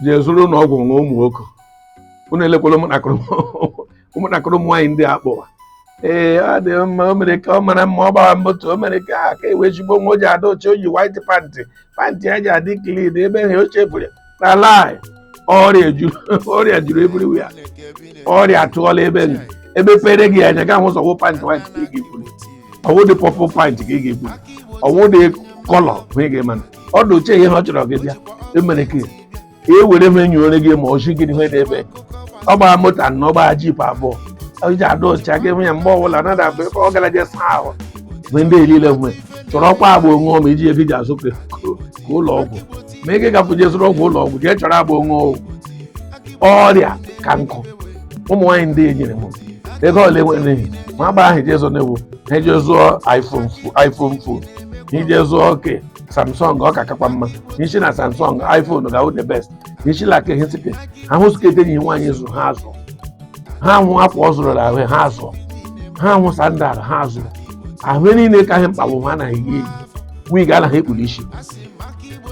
je zụrụnụ ọgwụ ṅụọ ụmụ nwoke unu elekwala ụmụntakịrị ụmụntakịrị ụmụ nwaanyị ndị a kpọwa ee ọ dị mma o mere ka ọ mara mma ọ gbara moto o mere ka aka ewe ezigbo nwa o ji adị ọcha o yi white pantị pantị ya ji adị klin ebe ha oche bụrụ na lie ọrịa juru ọrịa juru everywhere ọrịa atụọla ebe niile mepere gị anya gaa hụ ụzọ wụ pantị white ka ị ga-eburu ọ wụ dị purple pantị ka ị ga-eburu ọ wụ dị kọlọ hụ ị ga-ama na ọ dị ọcha ihe ọ chọrọ gị bịa emere ka e were m enyi onye gị ma ochi gịnị ihe na-eme ọ gbara moto anọ ọ gbara jip abụọ o ji adị ọcha gị hụ ya mgbe ọbụla na dabụ ebe ọ gara je saa ahụ mgbe ndị elile mgbe chọrọ ọkwa agbo ṅụọ ma i ji ego ji azụ ka ka ụlọ ọgwụ ma ị ga-agapụ je zụrụ ọgwụ ụlọ ọgwụ jee chọrọ agbo ṅụọ ọgwụ ọrịa ka nkụ ụmụ nwaanyị ndị e nyere m ego ole nwere ma agba ahụ je zụọ na-ewu ha je zụọ iphone fo- iphone fon ije zụọ oke samsung ọ ka kakwa mma nshi na samsung iphone ga-awụ the best nshi la ke hisipe ha hụ skirt enyi ha nwaanyị zụrụ ha azụ ha hụ akwa ọ zụrụ ahụ ha azụ ha hụ sandal ha azụ ahụ niile ka ihe mkpa wụ ha anaghị eyi eyi wig anaghị ekpuru isi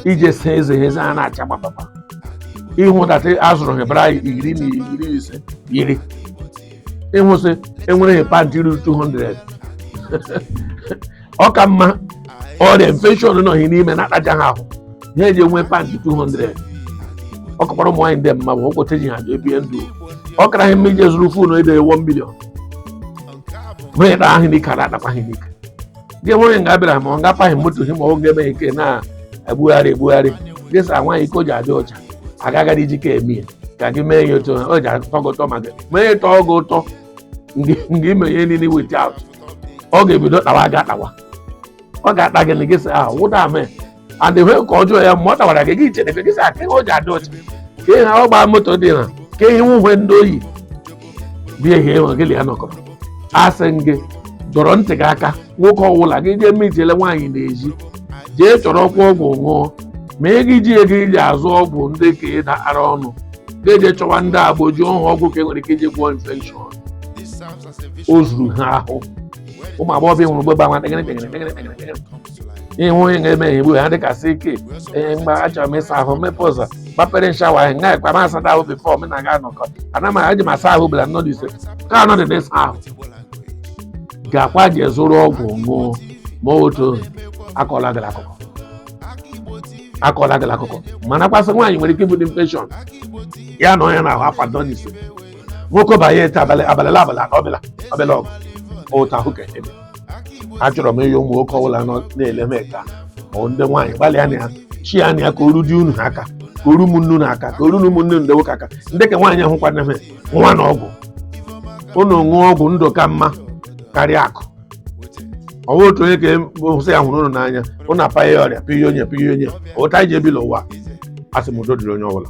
ije saa eze ha eze ha na-acha gbapapa ịhụ data azụrụ ha bra iri na iri ise yiri ị hụ sị e nwere hị pantị ruru 200 ọ ka mma ọrịa infection nọ hị n'ime na-akpaja ha ahụ ha eji enwe pantị 200 ọ kakwara ụmụ nwaanyị ndị a mma ọ bụkwa otu e ji ha ebi ndụ ọ kara ha mma ije zụrụ fon nde 1 million hụ ịda ahụ n'ike ada adakwa ha n'ike gị nweghị nga bịara ma ọ ngapaghị moto gị ma ọ ga-eme ike na-egbugharị egbugharị gị sa nwaanyị ike o ji adị ọcha agaghị iji ka eme ya ka gị mee ya otu o ji atọ gị ụtọ maka mee ya tọọ gị ụtọ nga ime ihe niile wit out ọ ga-ebido tawa gị tawa ọ ga-ata gị na gị sa ahụ wụda mee and ihe ka ọjọọ ya mgbe ọ tawara gị gị chere gị sị ka ihe o ji adị ọcha ka ihe ọ gbaa moto dị na ka ihe uwe ndị o yi bịa ihe enwe gị ya nọkọrọ asị m gị dọrọ ntị gị aka nwoke ọwụla gị jee mejele nwaanyị n'ezi jee chọrọ ọkwa ọgwụ ṅụọ ma i jighị ego i ji azụ ọgwụ ndị ka ị na-ara ọnụ ga-eje chọwa ndị agbo ji ọhụ ọgwụ ka e nwere ike iji gwọọ infekshọn o zuru ha ahụ ụmụ agbọghọbịa nwere mgbe gbanwa ịhụ onye ga-eme ihe igbu ha dịka isi ike ee mgbe achọrọ m ịsa ahụ mepe ụzọ gbapere shower ahụ nga ekwe ma asada ahụ bifọ m na-aga anọkọ ana m eji m asa ahụ bụla nnọdụ ise ka anọ dị n'ịsa ahụ gaakwa je zụrụ ọgwụ ṅụọ mmadụ akọla gịrị akụkọ akọla gịrị akụkọ mana kwasị nwaanyị nwere ike ibute infekshọn ya na onye na-ahụ afa nnọdụ ise nwoke banye ete abalị abalị abalị ọbụla ọbụla ọgụ ụta ahụ ka ebe achọrọ m ịyọ ụmụ nwoke ọbụla nọ na-ele m eke a ma ọ ndị nwaanyị gbalịa na ya chi ya na ya ka o ru di unu aka ka o ru ụmụnne unu aka ka o ru ụmụnne ndị nwoke aka ndị ka nwaanyị ahụ kwana m nwa na ọgwụ unu ṅụọ ọgwụ ndụ ka mma karịa akụ ọ bụ otu onye ka hụsị ya hụrụ unu n'anya unu apaghị ya ọrịa pịa onye pịa onye otu anyị ji ebi n'ụwa asị m udo dịrị onye ọbụla